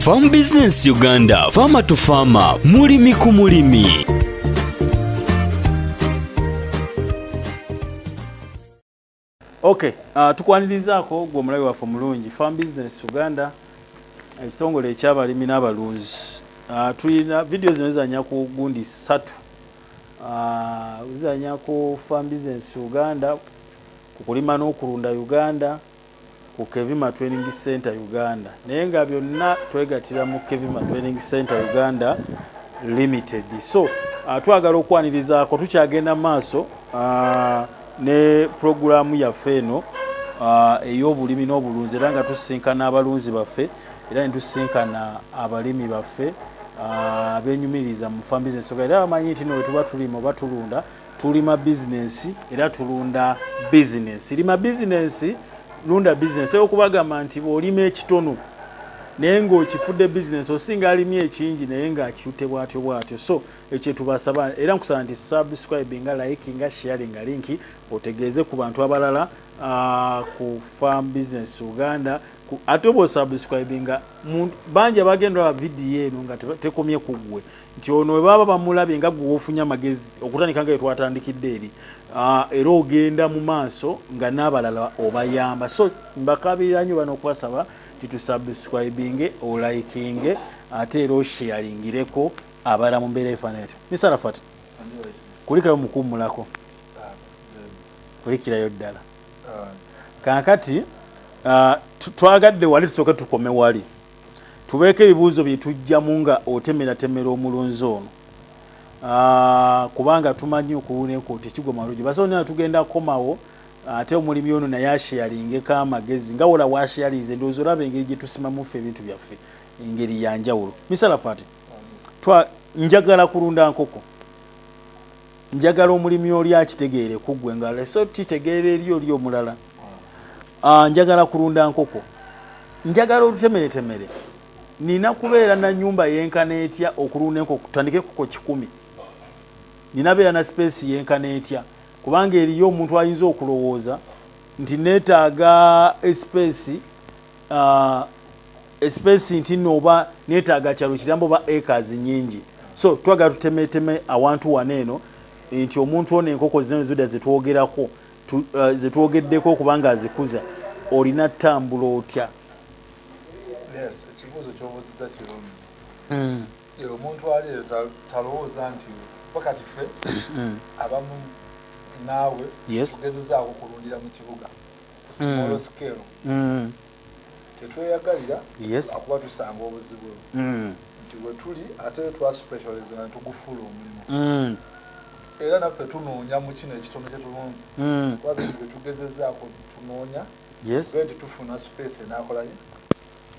Farm Business Uganda, Farmer to Farmer, mulimi ku mulimi. Okay, uh, tukwanirizaako gwe omulabi waffe omulungi Farm Business Uganda ekitongole ekyabalimi n'abalunzi uh, tulina vidiyo zino zizanya ku gundi ssatu uh, zizanya ku Farm Business Uganda ku kulima n'okulunda Uganda ku Kevima Training Center Uganda naye nga byonna twegatira mu Kevima Training Center Uganda Limited. So uh, twagala okwanirizaako tukyagenda maaso uh, ne pulogulaamu yaffe eno uh, ey'obulimi n'obulunzi era nga tusisinkana abalunzi baffe era ne tusisinkana abalimi baffe uh, abenyumiriza mu fambizi ensoga era bamanyi nti no wetuba tulima oba tulunda tulima bizinensi era tulunda bizinensi lima bizinensi lunda bizinensi okubagamba nti bw'olima ekitono naye ng'okifudde bizinensi osinga alimye ekingi naye ng'akiute bwatyo bwatyo so ekyo tubasaba era nkusaba nti subscribe nga like nga share nga linki otegeeze ku bantu abalala uh, ku farm business uganda ate oba osubscribe nga bangi abagenda ba vidiyo eno nga tekomye ku ggwe nti ono we baba bamulabye nga gwe wofunye amagezi okutandika nga yetwatandikidde eri ah, era ogenda mu maaso nga n'abalala obayamba so mbakabirira nyo bana okubasaba titusubscribinge olikinge ate era osheyaringireko abala mu mbeera efaananati misarafat kulikayo mukuwumulako ah, kulikirayo ddala ah. kakati twagadde wali tusooke tukome wali tubeeko ebibuuzo bye tujjamu nga otemeratemera omulunzi ono ah, kubanga tumanyi okuwuneku tekigwa malungi basawo nina tugenda komawo ate omulimi ono naye asheyalingeko amagezi nga wola washeyalinze ndowooza olaba engeri gye tusimamuffe ebintu byaffe engeri yanjawulo misalafu ati njagala kulunda nkoko njagala omulimi oli akitegeere kuggwe nga leso titegeera eri oli omulala Ah, njagala kulunda nkoko njagala olutemeretemere nina kubeera na nyumba yenkana etya okulunda enkoko tutandike kuko kikumi nina beera na sipeesi yenkana etya kubanga eriyo omuntu ayinza okulowooza nti neetaaga esipeesi ah, esipeesi nti no oba neetaaga kyalo kirambo oba acres nyingi so twagala tutemeteme awantu wano eno nti omuntu ono enkoko zino zida zetwogerako eh, zetwogeddeko okuba nga azikuza olina tambula otya ekibuuzo kyobuziza kirungi hmm. omuntu ali eyo talowooza nti pakati ffe hmm. abamu naawe tugezezaako kulundira mu kibuga small hmm. scale tetweyagalira akuba tusanga obuzibu mm. nti wetuli ate twasupetualizana netugufuula omulimu mm. era naffe tunoonya mu kino ekitono kyetulunzi mm. kuba bintu byetugezezaako tunoonya ge nti tufuna space enakolaye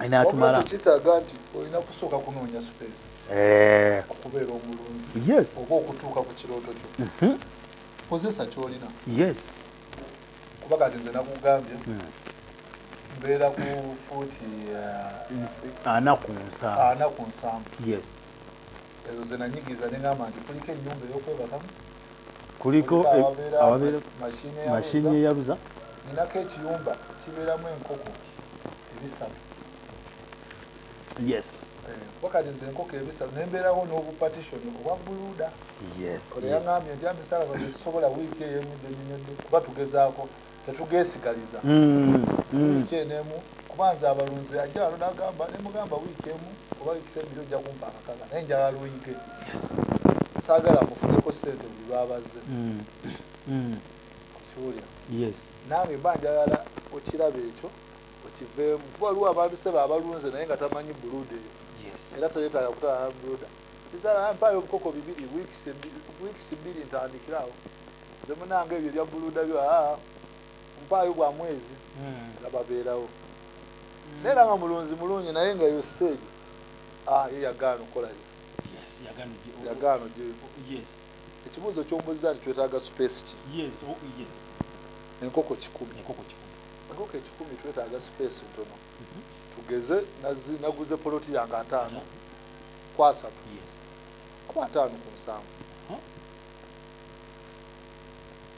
enatumala kitaaga nti olina kusooka kunoonya space eh. okubeera omulunzi oba okutuuka ku kirooto kyo mhm. kozesa kyolina kuba kati nze nakugambye hmm. mbeera ku fuuti eh, ana ku nsanvu ana ku nsanvu yes ezo ze nanyigiza ne ngamba nti kuliko ennyumba ey'okwebakamu kuliko awabeera mashini eyaluza ninako ekiyumba kibeeramu enkoko ebisatu yes wakati eh, nze enkoko ebisatu nembeerawo n'obupatishoni obwa buluda oleyangambye nti amisala bagezisobola wiiki eyo emu gyenyonyodde kuba tugezaako tetugesigaliza mm, mm. wiiki eno emu kuba nze abalunzi ajja alo nagamba nemugamba wiiki emu oba wiikisa ebiri ojja kumpa akakaga naye njala luyike saagala mufuneko sente buli lwabazze mm, kiwulira nange mba njagala okiraba ekyo okiveemu kuba waliwo abantu sebe abalunze naye nga tamanyi buluda eyo era teyetaaga kutala buluda bizala mpaayo obukoko bibiri wiikisi bbiri ntandikirawo nze munanga ebyo ebya buluda byo aa mpaayo bwa mwezi hmm. era babeerawo hmm. naye era nga mulunzi mulungi naye nga yo stage ye yagaana okolayo yagaano gyeyo ekibuuzo kyombuza nti twetaaga supesi ki oh, enkoko kikumi enkoko ekikumi twetaaga space ntono mhm. tugeze naguze poloti yange ataano kwasatu kuba ataano ku nsanvu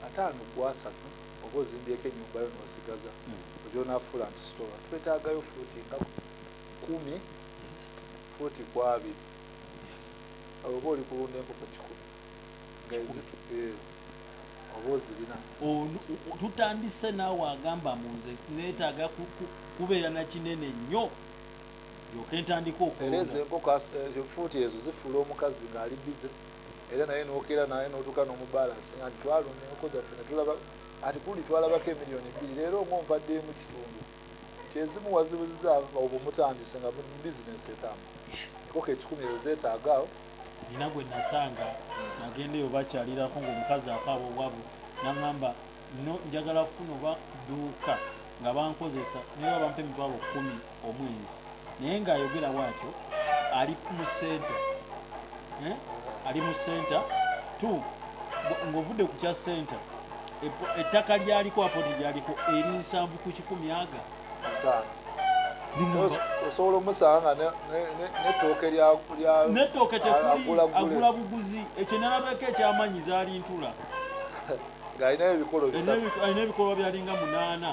ataano kwasatu oba ozimbyeko enyumba yo nosigaza hmm. ogyonafuula nti sitoa twetaagayo fuuti nga kumi fuuti kwabiri oba oli kulunda enkoko kikumi tutandise naawe agamba munze netaaga kubeera nakinene nnyo yoka entandika okuereeza enkoko eh, efuuti ezo zifuula omukazi ng'ali bize era naye nokera naye notuka nomubalansi nga ntitwalumyoko gyaffe netulaba ati kuli twalabako emiliyoni bbiri leero ngaompaddeemu kitundu nti ezimu wazibuziza obwo mutandise nga bizinesi etamu koka ekikumi eyo zeetaaga awo nina gwe nasanga nagenda eyo bakyalirako ngaomukazi akaaba obwavu naŋamba no njagala kufuna oba duuka nga bankozesa naye babampa emitwalo kumi omwezi naye ng'ayogera bwatyo ali mu senta eh? ali mu senta t ng'ovudde ku kya senta ettaka lyaliko apoti lyaliko eri nsanvu ku kikumi aga osobola omusanga netooke netooke agula buguzi ekyo nalabeko ekyamanyi zaali ntula ng'alina ebikolwa byalinga munaana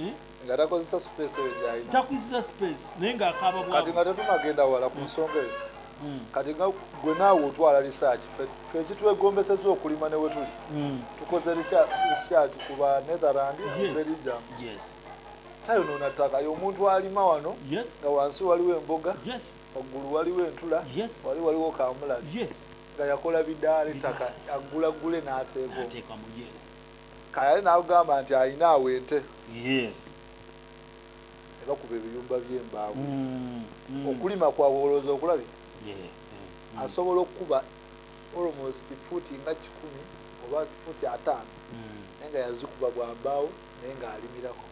eh? nga takozesa space eyo gyalina takozesa space naye nga akaaba bwa kati nga tetunagenda wala ku nsonga eyo hmm. kati nga gwe naawe otwala research ekitwegombeseza okulima ne wetuli hmm. tukoze research ku ba netherland belgium tayonoona ttaka ye omuntu alima wano nga wansi waliwo emboga waggulu waliwo entula wali waliwo kamulali nga yakola bidaala ettaka aggulaggule n'ateekamu kayale nakugamba nti alina awo ente nebakuba ebiyumba byembaawo mm, mm. okulima kwabwe olowooza okulabye mm. asobola okukuba almost fuuti nga kikumi oba fuuti ataano naye nga yazikuba bwambaawo naye nga alimirako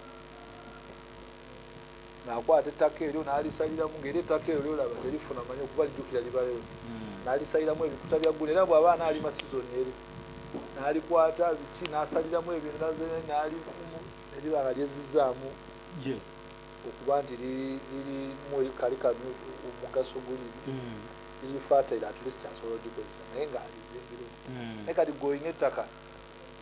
nakwata ettaka eryo nalisaliramu ngaera ettaka eryo lyolaba terifuna manyi okuba lijjukira libaleyo hmm. nalisaliramu ebikuta bya ggulu era bwaba anaalima sizoni eri nalikwata biki nasaliramu ebintu naze nali eribanga lyezizaamu okuba nti lirimu kali kanu omugaso guli hmm. lirifatire at least asobola odikozesa naye ngaalizimbiremu hmm. naye kati goyina ettaka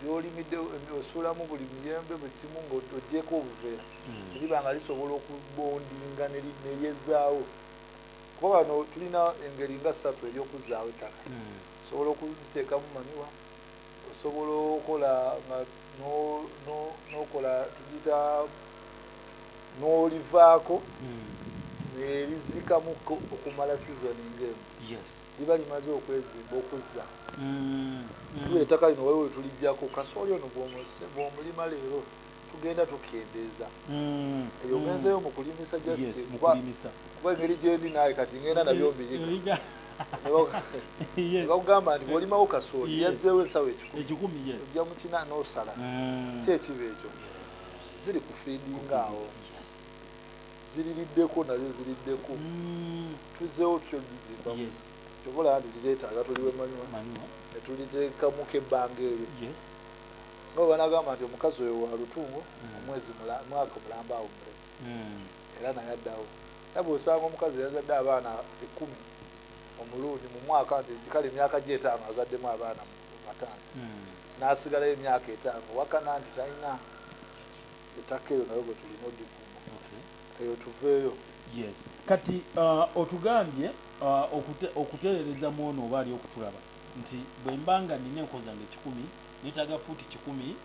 lyolimidde osuulamu buli miyembe buli kimu ngaogyeko obuveera hmm. eriba nga lisobola okubondinga neryezaawo kuba wano tulina engeri nga ssatu eryokuzaawo ettaka hmm. osobola okuziteekamu maniwa osobola okola nga nokola tugita nolivaako hmm. nerizikamu okumala sizoni ngaemu liba limaze okwezimba okuzza mm, mm. ettaka lino waliwo wetulijjako kasooli ono bwomulima leero tugenda tukendeeza mm, eyo ngenzeyo mu kulimisa just kuba engeri gyendi naawe kati ngenda nabyo eh, mbiyiga nebakugamba nti bwolimawo kasooli yajjewo ensawo ekikumi ojja mukina nosala kyekiba ekyo ziri kufiidinga awo ziririddeko nabyo ziriddeko mm. tuzeewo tutyo lizimbamu kyova olaba nti tizetaaga tuliwe manywa netuliteekamuko ebbanga eryo nabo banagamba nti omukazi oyo wa lutungo mm. omwezi mwaka mulamba awo mule mm. era naye addawo nabwe osanga omukazi yazadde abaana ekumi omulundi mu mwaka nti kale emyaka gye etaano azaddemu abaana bataano n'asigalayo emyaka etaano wakana nti talina ettaka eyo nayo bwetulina odikuuma eyo tuveeyo yes kati uh, otugambye uh, okute, okutereereza mu ono oba ali okutulaba nti bwe mba nga nina enko zange kikumi netaga fuuti kikumi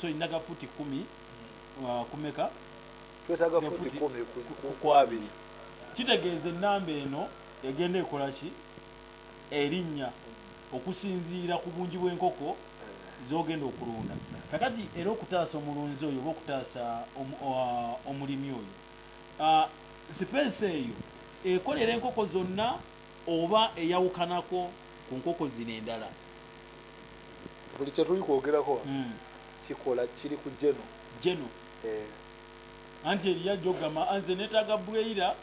so ninaga fuuti kumi uh, kumeka twetaga fuuti kumi ku abiri kitegeeza ennamba eno egenda ekolaki erinnya okusinziira ku bungi bw'enkoko z'ogenda okulunda kakati era okutaasa omulunzi oyo oba okutaasa omulimi oyo sipeesi eyo ekolera enkoko zonna oba eyawukanako ku nkoko zino endala buli kyetuli kwogerako hmm. kikola kiri ku geno geno eh. anti eriyo ajogamba anze netaga bweyira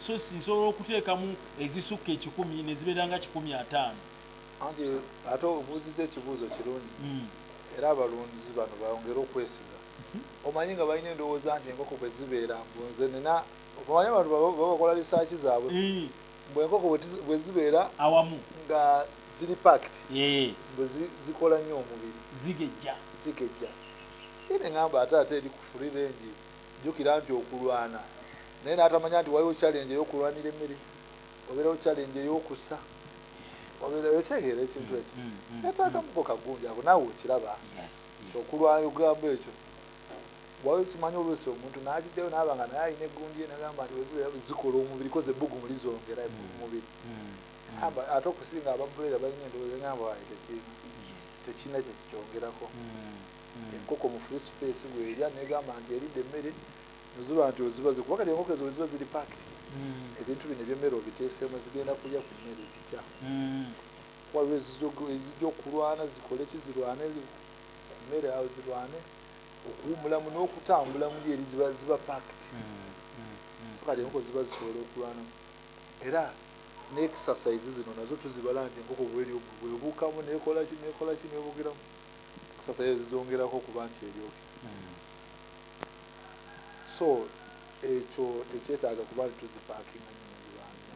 sosi nsobola okuteekamu ezisukka ekikumi nezibeera nga kikumi ataano anti ate obuuziza ekibuuzo kirungi hmm. era abalunzi bano bongere okwesiga hmm. omanyi nga balina endowooza nti enkoko bwe zibeera mbunze nina omanyi abantu babakola lisaaki zaabwe hmm. mbu enkoko bwe zibeera awamu nga ziri pakt mbu zikola nnyo omubiri zigejja zigejja ene ngamba ate ate eri kufurirengi jukira nti okulwana naye natamanya nti waliwo challenge eyokulwanira emmere obeerawo challenge eyokusa obeeraekyegeera ekintu ekyo mm, mm, mm, yataagamuko kagunja ako naawe okiraba okulwana okugambo ekyo waliwo simanyi oluusi omuntu nakijjayo naaba nga naye alina egundi ye nagamba nti wezikola omubiri koze ebbugu muli zongera mumubiri ate okusinga abamuleera balina endowooza ngamba waye tekirina tekirina kyekikyongerako hmm. enkoko mu free space bwerya negamba nti eridde emmere nozuba nti ozibaze kuba kati enkoko ezo weziba ziri pakiti hmm. ebintu bino ebyemmere obiteesemu zigenda kulya ku mmere zitya hmm. waliwo ezija okulwana zikole ki zirwane ku mmere awo zirwane okuwumulamu n'okutambulamu lyeri ziba ziba pakiti so kati enkoko ziba zisobola okulwanamu era ne exercise zino nazo tuzibala nti enkoko bwelyo bwebuukamu nekolaki nekolaki nebugiramu sasa yazongerako okuba nti eryoke hmm. so ekyo tekyetaaga kuba nti tuzipakinga nyingibanna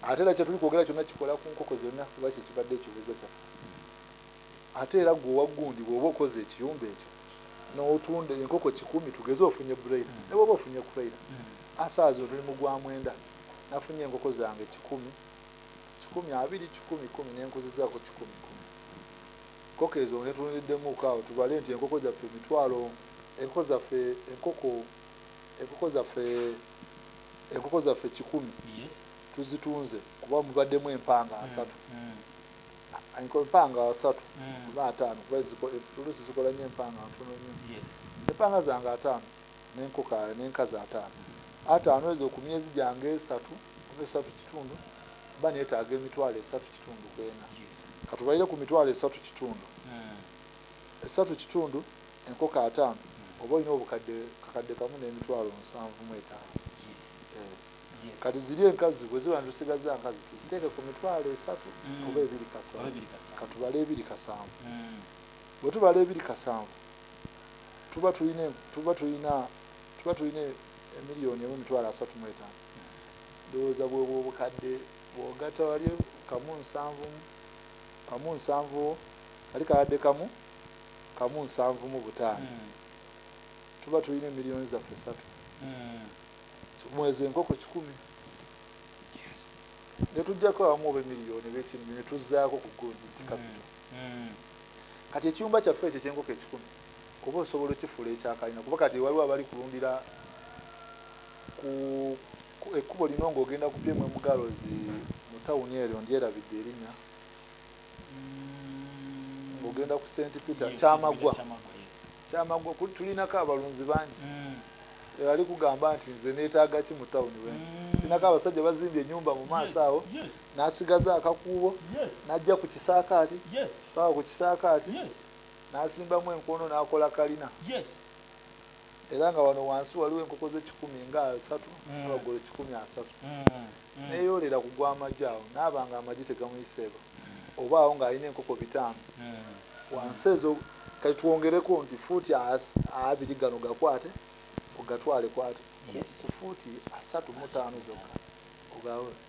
ate era kyetuli kwogera kyonna kikola ku nkoko zonna kuba kyekibadde ekibuuzo kyaffe ate era gwe owaggundi bwoba okoze ekiyumba ekyo notunda enkoko kikumi tugeze ofunye braila hmm. ne bwoba ofunye kuraila hmm. asaazi otuli mugwamwenda nafunye enkoko zange kikumi kikumi abiri kikumi kumi nenkuzizaako kikumi kumi nkoko ezo ngetunuliddemuko awo tubale nti enkoko zaffe emitwalo enkoko zaffe enkoko enkoko zaffe enkoko zaffe kikumi tuzitunze kuba mubaddemu empanga mm, asatu mm. empanga asatu mm. oba ataano kuba tulusi zikola nyo empanga ntono nyo empanga zange ataano n'enkoko n'enkazi ataano ataano ezo ku myezi gyange esatu oba esatu kitundu ba neetaaga emitwalo esatu kitundu kwena katubaire ku mitwalo esatu kitundu hmm. esatu kitundu enkoko ataano hmm. oba olina obukadde kakadde kamu n'emitwalo nsanvu mu etaano eh. kati ziri enkazi bwe ziba nitusigaza nkazi tuziteeke ku mitwalo esatu hmm. oba ebiri kasanvu katubale ebiri kasanvu bwe tubala ebiri kasanvu tuba tulina tuba tulina tuba tulina emiliyoni emu emitwalo asatu mu etaano ndowooza bwebwo obukadde bwogata wali kamu nsanvu kamu nsanvu ali kakadde kamu kamu nsanvu mu butaano hmm. tuba tulina emiliyoni zaffe satu hmm. mwezi enkoko kikumi netujjako abamu oba emiliyoni bekinmi netuzaako ku gundi nti kapito hmm. hmm. kati ekiyumba kyaffe ekyo ekyenkoko ekikumi kuba osobola okifuula ekyakalina kuba kati waliwo abali kulundira ekkubo lino ngaogenda kupyemu emugalozi mu tawuni eryo ndyerabidde erinya hmm. ogenda ku st peter kyamagwa kyamagwa tulinako abalunzi bangi hmm. ali kugamba nti nze netaaga ki mu tawuni we mm. inako abasajja bazimbye enyumba mu maaso awo n'asigaza akakuubo n'ajja ku kisaakaati paka ku kisaakaati n'asimbamu enkono n'akola kalina era nga wano wansi waliwo enkoko z'ekikumi nga asatu mm. abagolo kikumi asatu mm. Mm. neyoolera ku gw'amagi awo naaba nga amagi tegamuyiseeko oba awo ng'alina enkoko bitaano wansi ezo kati twongereko nti fuuti abiri gano gakwate ogatwale kwate ku fuuti asatu mutaano zokka ogawe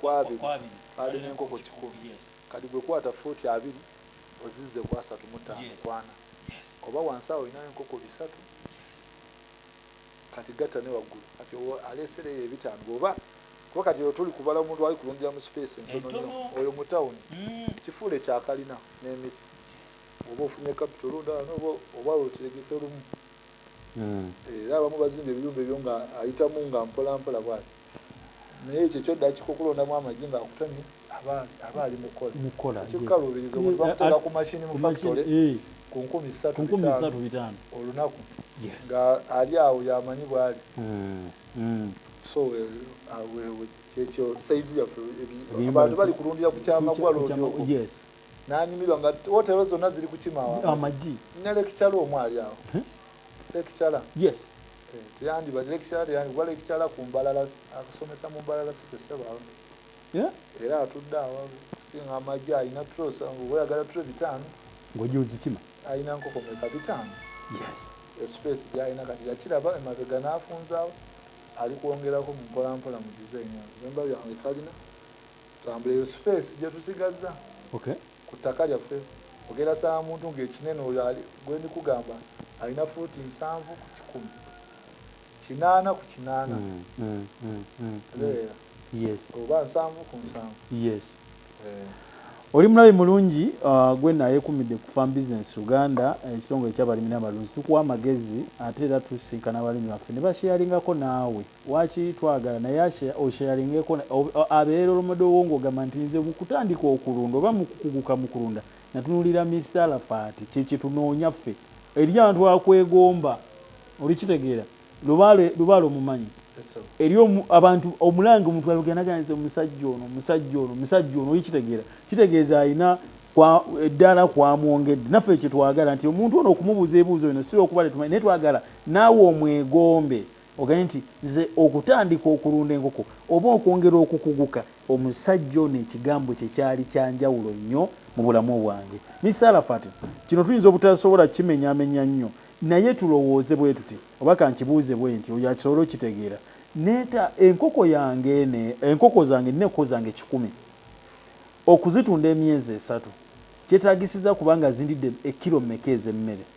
kwabiri ali nenkoko kikumi kati gwekwata foti abiri ozize kwasatu mutano kwana oba wansi awo olinayo enkoko bisatu kati gatta ne waggulu kati aleesera eyo ebitaano bwoba kuba kati eyo tuli kubala omuntu ali kulundira mu sipeesi entono oyo mu tawuni mm. kifuule kyakalina n'emiti oba ofunye kapito olundala noba oba okiregeke lumu mm. era abamu bazimba ebiyumba ebyo nga ayitamu nga mpolampola bwati naye ekyo kyodda kikukulondamu amagi nga akutamye aba ali mukola kikukaluubiriza omuntu bakuteeka ku mashini mu factory eh. ku nkumi ssatu bitaano olunaku nga ali awo yamanyi bwali hmm, hmm. so eh, ah, kyekyo saizi yaffe abantu bali kulundira ku kyamagwalondioko nanyumirwa nga wotero zonna ziri kukima amagi ne lekicala omu ali awo hmm? lekicala yes eh, teyandibadde lekicala teyandi kuba lekicala ku mbalala akusomesa mu mbalala si tesebawo era atudde awo singa amagi alina trosa oyagala tro bitaano ngojozikima alina nkoko meka bitaano yes espace gyalina kati yakiraba emabega n'afunzaawo ali kwongerako mu mpolampola mu design yamba byange kalina tambula eyo space gyetusigaza okay. ku ttaka lyaffe ogera saa muntu ngaekinene oyo gwenikugamba alina fuuti nsanvu ku kikumi kinaana ku kinaana mm, mm, mm, mm, mm. oba nsanvu ku nsanvu yes. eh. oli mulabi mulungi uh, gwe nayekumidde ku farm business uganda ekitongole eh, kyabalimi nabalunzi tukuwa amagezi ate era tusinkana abalimi baffe ne bakyeyalingako naawe Waki twagala naye osharingeko abera olomado wo ngogamba nti nze mukutandika okulunda oba mukukuguka mukulunda natunulira Mister Alafati kye kyetunonya ffe eri abantu akwegomba olikitegera lubale lubale omumanyi eri abantu omulanga omuntu alugenda naga nze musajja ono musajja ono musajja ono olikitegera kitegeeza alina kwa eddala kwamwongedde naffe kye twagala nti omuntu ono okumubuza ebuuzo eno sira okuba tetumanyi naye twagala naawe omwegombe ogambye nti nze okutandika okulunda enkoko oba okwongera okukuguka omusajja ono ekigambo kye kyali kyanjawulo nnyo mu bulamu bwange misalafati kino tuyinza obutasobola kimenyamenya nnyo naye tulowooze bwe tuti oba kankibuuze bwe nti oyo akisobole okitegeera neeta enkoko yange ene enkoko zange nina enkoko zange kikumi okuzitunda emyezi esatu kyetagisiza kubanga zindidde ekkiro mmeka ez'emmere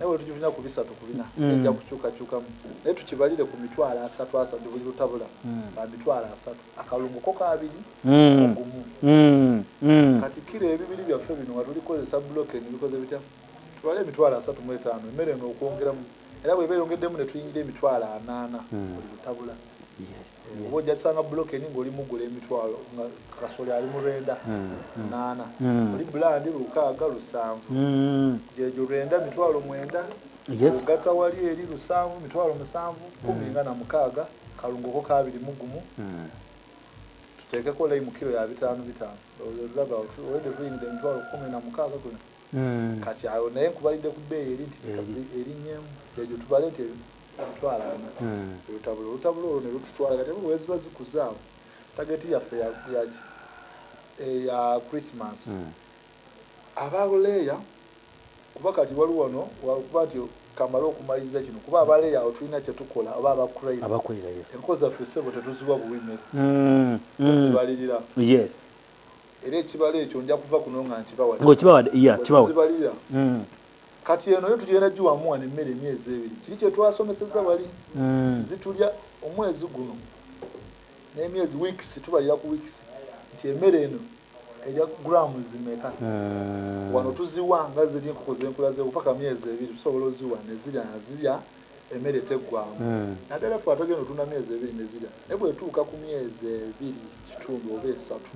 naye wetujulina ku bisatu ku bina mm. ejja kukyukakyukamu naye tukibalire ku mitwalo asatu asatu buli lutabula mm. ba mitwalo asatu akalungu ko kabiri mm. ogumu kati kiro ebibiri byaffe bino nga tulikozesa bloke nebikoze bitya tubale emitwalo asatu mu etaano emmere nookwongeramu era bweba eyongeddemu netuyingira emitwalo anaana buli lutabula oba ojja kusanga bulokeni ng'oli mugula emitwalo nga kasoli ali mu lwenda hmm, hmm. naana hmm. oli bulandi lukaaga lusanvu gyegyo lwenda mitwalo mwenda ogata wali eri lusanvu mitwalo musanvu kumi nga na mukaaga kalungoko kabiri mugumu tuteekeko laimu kiro ya bitaano bitaano olaba olwedde tuyingidde emitwalo kumi na mukaaga gona kati awo naye nkubalidde ku bbeeyi eri nti erinnyemu egyo tubale nti twalana hmm. olutabula olutabula olwo nelututwala kati bwe ziba zikuzaawo tageti yaffe yaki eya christmas hmm. abaleeya kuba kati wali wano wakuba nti kamale okumaliriza kino kuba abaleeya awo tulina kyetukola oba abakuraiabakurira enko zaffe sebo tetuziwa buwi mere hmm. zibalirira era ekibalo ekyo nja kuva kuno nga nkibawadde kati eno yo tugenda giwamu wano emmere emyezi ebiri kiri kyetwasomeseza wali hmm. zitulya omwezi guno n'emyezi weeks tubalira ku weeks nti emmere eno erya gramu zimeka hmm. wano tuziwa nga ziri enkoko zenkula ze paka myezi ebiri tusobola oziwa nezirya nazirya emmere teggwamu hmm. naddala fe atagenda otunda myezi ebiri nezirya naye bwetuuka ku myezi ebiri kitundu oba esatu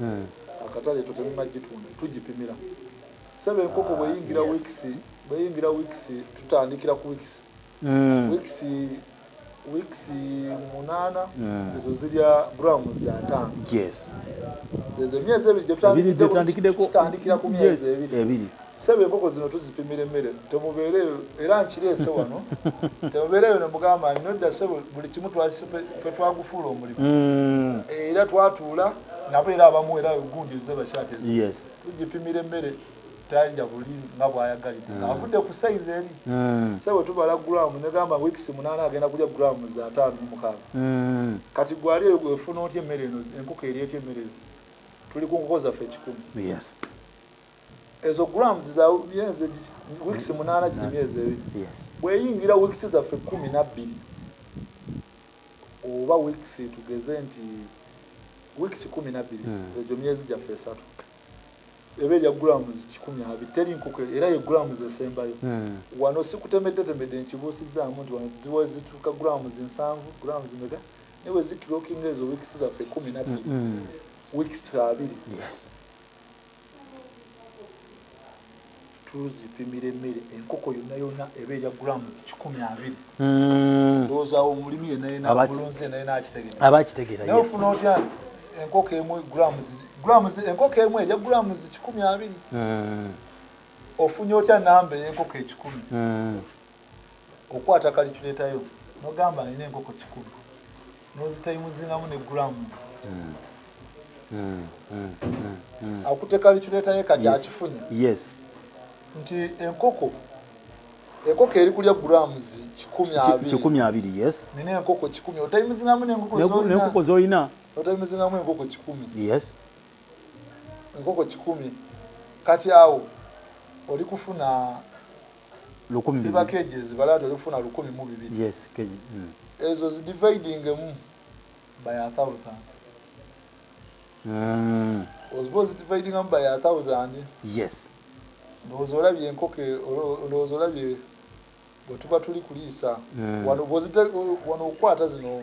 akatale to temumagitunda tugipimira sebe enkoko bweyingira weeks bweyingira weeks tutandikira ku weeks mm. weeks weeks munana mm. ezo zirya grams za ntano yes ezo emyezi ebiri gyetutandikira ku myezi ebiri sebe enkoko zino tuzipimira emmere temubeere era nkireese wano temubeereyo nemugamba nodda sebe buli kimu fe twagufuula omulimu mm. era twatuula nabo era abamu era gundi zebakyatezo tugipimira emmere talya buli nga bwayagalidde hmm. ng'avudde ku sayizi eri hmm. sebo tubala gulamu negamba wiikisi munaana agenda kulya gulamu za ataano mumukaaga hmm. kati gwali eyo gwefuna otya emmere eno enkoko eri etya emmere eno tuli ku nkoko zaffe ekikumi ezo gulamu zizabyenze wiikisi munaana giri myezi ebiri bweyingira wiikisi zaffe kumi nabbiri oba weeks tugeze nti weeks kumi nabbiri hmm. egyo myezi gyaffe esatu eba erya grams kikumi abiri teri nkoko era ye grams esembayo hmm. wano sikutemeddetemedde nkibuusizaamu nti wano ziwa zituuka grams nsanvu grams mega naye wezikirokinga ezo weeks zaffe kumi nabbiri hmm, weeks abiri tuzipimira emmere enkoko yonna yonna eba erya grams kikumi abiri hmm. ndowoozawo omulimi yenayenabulunzi yenayena akitegera aba akitegera naye ofuna otya enkoko emu grams grams enkoko emu erya grams kikumi abiri hmm. ofunye otya namba eyenkoko ekikumi hmm. okwata kaliculeeta yo nogamba alina enkoko kikulu nozitaimuzingamu ne grams hmm. Hmm. Hmm. akute kaliculeeta ye kati akifunye nti enkoko enkoko eri kulya grams kikumi abiri yes nina enkoko kikumi otaimuzingamu nenkoko zolina otaimuzingamu enkoko kikumi yes enkoko kikumi kati awo oli kufuna lukumi ziba keji ezibala ati olifuna lukumi mu bibiri yes keji mm. ezo zidividing emu by a thousand mm. oziba ozidividing emu by a thousand yes ndowooza olabye enkoko e, ndowooza olabye bwetuba tuli kuliisa mm. wano okukwata zino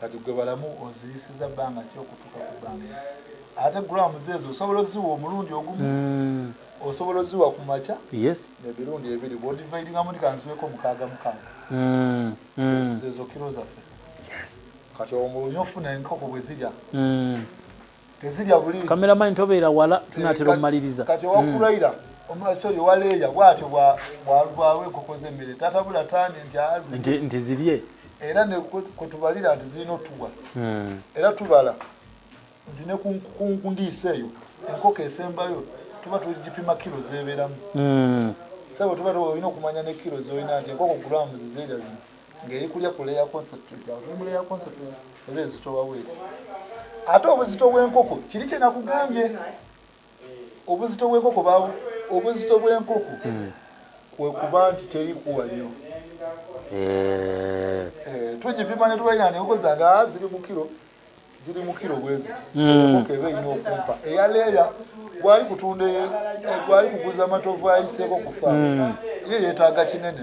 kati gwe balamu oziyisiza bbanga ki okutuuka ku bbanga ate grams ezo osobola oziwa omulundi ogumu hmm. osobola oziwa ku makya emirundi ebiri bwodivaidingamu ndi kanziweko mukaaga mukaaga hmm. Hmm. zezo kiro zaffe kati omulunye ofuna enkoko bwe zirya tezirya buli kamera mine tobeera wala eh, tunatera omumaliriza kati owakuraira mm. omusori owa leeya bwatyo bwalwawo enkoko z'emmere tatabula tandi nti azi nti zirye era kwetubalira nti zirina otuwa mm. era tubala nti ne kundiisa eyo enkoko esembayo tuba tugipima kiro zebeeramu mm. sabo tuba olina okumanya ne kiro zolina nti enkoko gulamu zizerya zino ngeri kulya ku layer concentrate awo tuli mu layer concentrate era ezitowa weeti ate obuzito bw'enkoko kiri kye nakugambye obuzito bw'enkoko bawo obuzito bw'enkoko hmm. kwe kuba nti terikuwa nnyo eh. eh, tugipima ne tubalina nenkoko zange ziri mu kiro ziri mu kiro bwe ziti hmm. enkoko eba erina okumpa eya leeya gwali kutunda e, e, gwali kuguza amatovu ayiseeko kufa hmm. ye yeetaaga kinene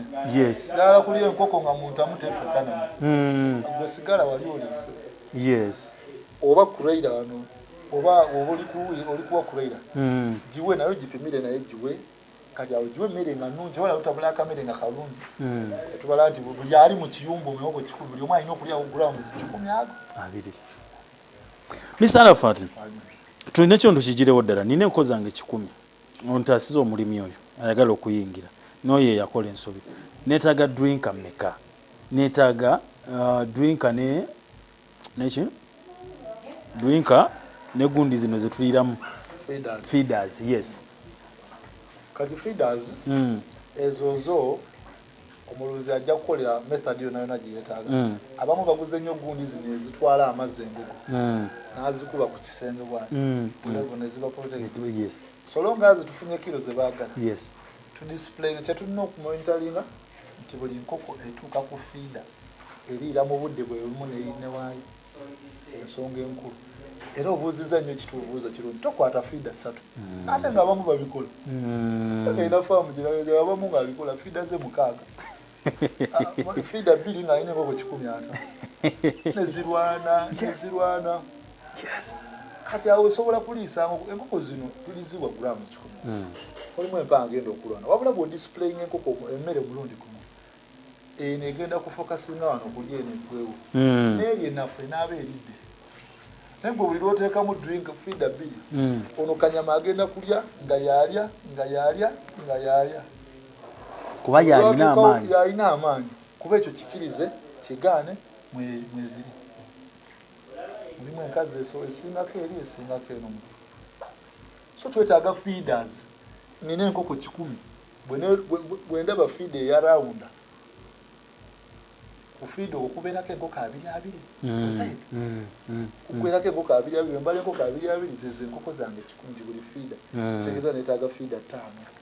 ddala kuli enkoko nga muntamu tetukana hmm. gwe sigala wali olese yes oba kuraira wano oba oba oli kuwa kuraira giwe nayo gipimire naye giwe kati awo giwa emmere nga nnungi wala lutabula akamere nga kalungi hmm. tubala nti buli ali mu kiyumba omuwogo kikulu buli omu alina okulyawo grounds kikumi ago abiri mr arafat tulina ekyo ntukigirewo ddala nina enko zange kikumi ontaasiza omulimi oyo ayagala okuyingira noyo eyakola ensobi netaaga drinka meka netaaga uh, drinka ne neki drinka ne gundi zino zetuliramu feeders yes kati feeders mm. ezo zo omulunzi ajja kukolera method yona yona gyeyetaaga mm. abamu baguze nnyo gundi zino ezitwala amazzi embugo mm. nazikuba ku kisenge bwati mm. levo neziba protect yes. solonga zitufunye kiro zebagala yes. tudisplay kyetulina okumonitalinga nti buli nkoko etuuka ku fiida eriira mu budde bwe bumu neyine waayo ensonga enkulu era obuuziza nnyo kitubuuzo kirungi tokwata fiida ssatu mm. ate nga abamu babikola mm. era faamu giraga abamu nga abikola fiida ze mukaaga ah, fiida bbiri nga alina enkoko kikumi ata nezirwana nezirwana yes kati awo osobola kuliisa enkoko zino tuliziwa grams kikumi hmm. olimu empa agenda okulwana wabula bwodisiplayinga enkoko emmere omulundi gumu eno egenda kufokasinga wano kulya eno egwewo hmm. neeri enafu enaaba eridde naye gwe buli lwoteekamu drink fida bbiri hmm. ono kanyama agenda kulya nga yalya nga yalya nga yalya kuba yalina amaanyi kuba ekyo kikirize kigaane mweziri mulimu enkazi esobola esingako eri esingako eno mu so twetaaga feeders nina enkoko kikumi bwendaba feed eya rawunda kufiida okwo kubeerako enkoko abiri abiri mm, mm, mm, kubeerako enkoko abiri abiri embala enkoko abiri abiri zezo enkoko zange kikumi gibuli fiida tegeza netaaga fiida taano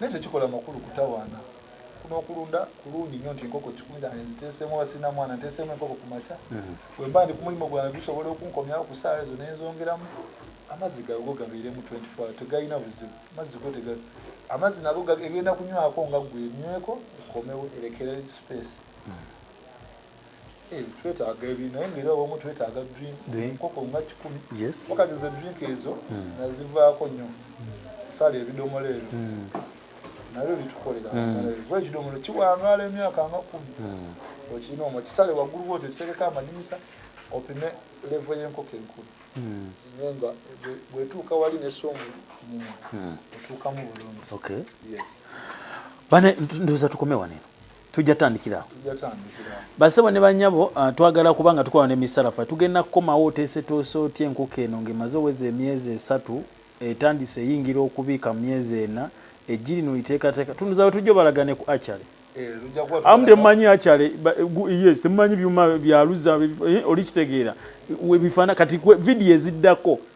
naye tekikola makulu kutawaana kunokulunda kulungi nyo nti enkoko kikunjane nziteseemu oba sirina mwana nteseemu enkoko ku makya hmm. wemba ndi ku mulimu gwange gusobola okunkomyawo ku saawa ezo nenzongeramu amazzi gago gabeeremu 24 tegalina buzibu amazzi go tegali amazzi nago egenda kunywako nga gwe enyweko ekomewo erekere space hmm. Eh, twetaaga ebi naye ngaera omu twetaaga drink enkoko nga kikumi wakati ze drink ezo hmm. nazivaako nnyo sala ebidomola ebyo hmm. nabyo bitukolera hmm. kuba ekidomola kiwangaala emyaka nga kumi okirina omwo kisale waggulu bwotyo kitegeka amadinisa opime levo y'enkoko enkulu zine nga bwetuuka wali nesomu muma otuukamu bulungi bane ndoza tukome waneno tujja tandikira awo basebo ne banyabo ah, twagala kuba nga tukola ne misalafa tugenda kukomawo oteeseteese otya enkoko eno ng'emaze oweza emyezi esatu etandise eyingira okubiika mu myezi ena eggi lino liteekateeka tunduza wetujja obalaga ne ku achale eh, amu temumanyi achale yes temumanyi byuma byaluza eh, olikitegeera webifaana kati vidiyo eziddako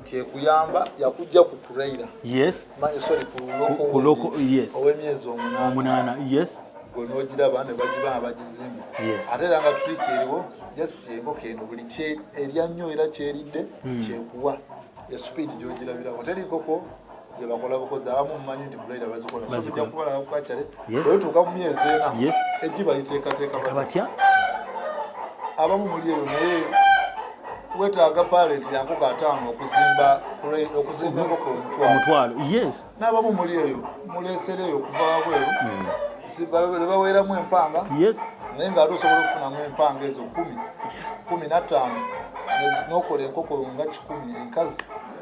nti ekuyamba yakujja ku kuraira yes manyi sorry ku loko ku loko yes owe myezi omunana omunana yes gwe nogira bane bagiba abagizimba yes ate langa trick eriwo just yengo kendo buli kye erya nyo era kyeridde hmm. kyekuwa ya speed gyogirabira hoteli koko zebakola bukozi abamu mumanyi nti grade bazikola so tujja kubalaba ku kacale bwetuuka mu myezi ena ejji baliteekateeka batya abamu muli eyo naye wetaaga parent yankoko ataano okuzimba okuzimba enkoko omutwalo yes n'abamu muli eyo muleesera eyo okuva wabweru hmm. ne baweeramu empanga yes naye nga ate osobola okufunamu empanga ezo kumi kumi na ttaano n'okola enkoko nga kikumi enkazi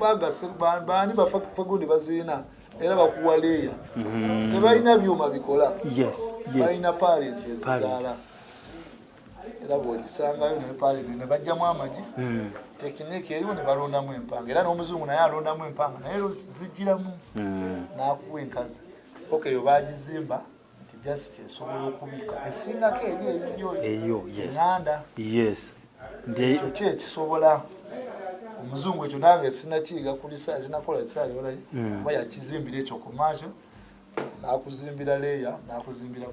bagase baani bafagundi bazirina era bakuwa leeya mm-hmm. tebalina byuma bikola balina palenti ezizaala era bwogisangayo naye palenti nebajjamu amagi mm. tekiniki eriwo nebalondamu empanga era n'omuzungu naye alondamu empanga naye zijjiramu mm. nakuwa enkazi okeyo bagizimba just esobola okubika esingako eri eyiyo eyo enganda yes ekyo ki ekisobola omuzungu ekyo nange sinakiyiga kuli sinakola kisayolayo mm. oba yakizimbira ekyo kumaakyo nakuzimbira leya nakuzimbira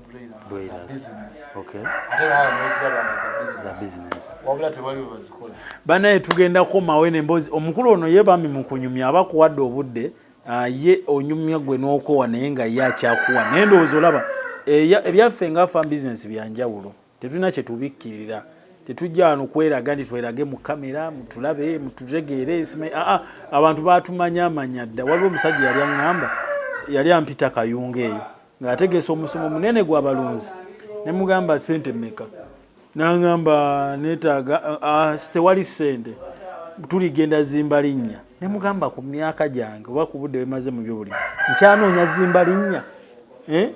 wabula tewali webazikola banaye tugenda komawo eno emboozi omukulu ono ye bami mukunyumya aba kuwadde obudde Ah, ye onyumya gwe n'okowa naye nga ye akyakuwa naye ndowooza olaba eh, ebyaffe nga fan business byanjawulo tetulina kyetubikkirira tetujja wano kweraga nti twerage mu kamera mutulabe mututegeere aa ah, ah, abantu batumanya amanya dda waliwo omusajja yali aŋŋamba yali ampita kayunga eyo ng'ategeesa omusomo munene gw'abalunzi ne mugamba sente mmeka nangamba netaaga tewali sente tuligenda zimba linnya ne mugamba ku myaka gyange oba ku budde bwemaze mu byobulimi nkyanoonya zimba linnya eh?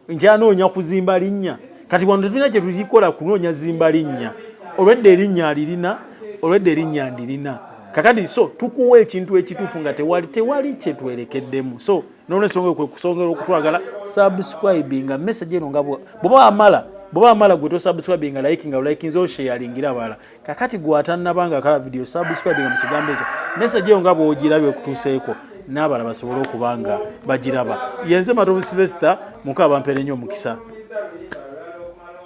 nkyanoonya kuzimba linnya kati wano tetulina kye tukikola kunoonya zimba linnya olwedda erinnya alirina olwedda erinnya ndirina kakati so tukuwa ekintu ekituufu nga tewali tewali kyetwerekeddemu so nolwensonga kwe kusongera okutwagala subscribe nga message eno nga bwoba wamala bwoba wamala gwe tosubscribe nga like nga ulikinze osheyalingira abala kakati gwatanaba nga akala video subscribe nga mu kigambo ekyo message eyo nga bwogiraba ekutuuseeko n'abala basobole okuba nga bagiraba yenze matovu silvester muka bampere nnyo omukisa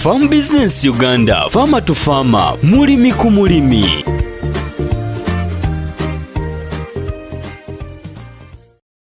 Farm Business Uganda, Farmer to Farmer, mulimi ku mulimi.